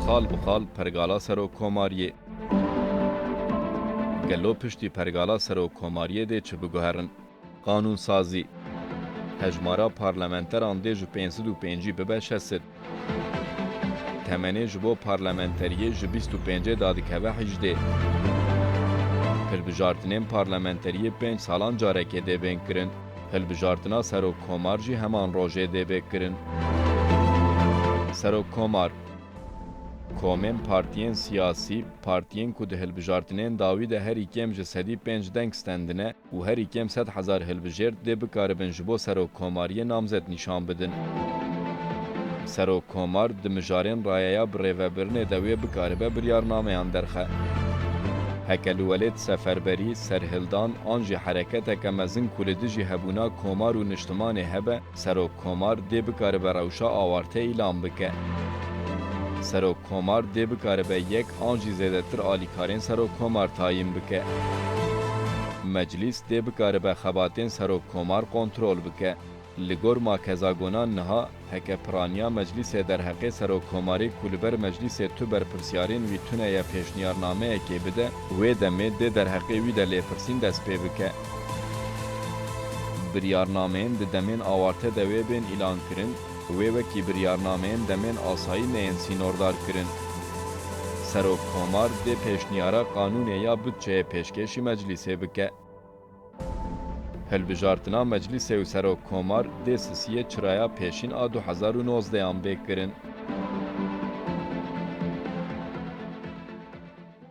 Xal bi xal pergala serok komariyê. Gelo piştî pergala serok komariyê dê çi biguherin? Qanûnsazî. Hejmara parlamenteran dê ji pênc sed û pêncî bibe şeş sed. Temenê ji bo parlamenteriyê ji bîst û pêncê da dikeve hîjdê. Hilbijartinên parlamenteriyê pênc salan carekê dê bên kirin. Hilbijartina Serok Komar jî heman rojê dê bê kirin. Serok Komar, Komên partiyên siyasî, partiyên ku di hilbijartinên dawî de herî kêm ji sedî pênc deng stendine û herî kêm sed hezar hilbijêrt dê bikaribin ji bo serokkomariyê namzet nîşan bidin. Serokkomar di mijarên rayeya birêvebirinê de wê bikaribe biryarnameyan derxe. Heke li welêt seferberî, serhildan an jî hereketeke mezin ku li dijî hebûna komar û niştimanê hebe, serokkomar dê bikaribe rewşa awarte îlan bike. Serokkomar dê bikaribe yek an jî zêdetir alîkarên serokkomar tayîn bike. Meclîs dê bikaribe xebatên serokkomar kontrol bike. Li gor ma Kezagonan niha heke piraniya Meclîsê derheqê Serokkomarê ku li ber Meclîsê tu berpirsyarên wî tune ye pêşniyarnameyekê bide û wê demê dê derheqê wî de lêpirsîn dest pê bike. Biryarnameyên di demên awarte de wê bên îlankirin û wê wekî biryarnameyên demên asayî neyên sînordarkirin. Serokkomar dê pêşniyara qanûnê ya budçeyê pêşkêşî Meclîsê bike. Hilbijartina Meclîsê û Serok Komar dê sisiyê çiraya pêşîn a du hezar û nozdeh an bê kirin.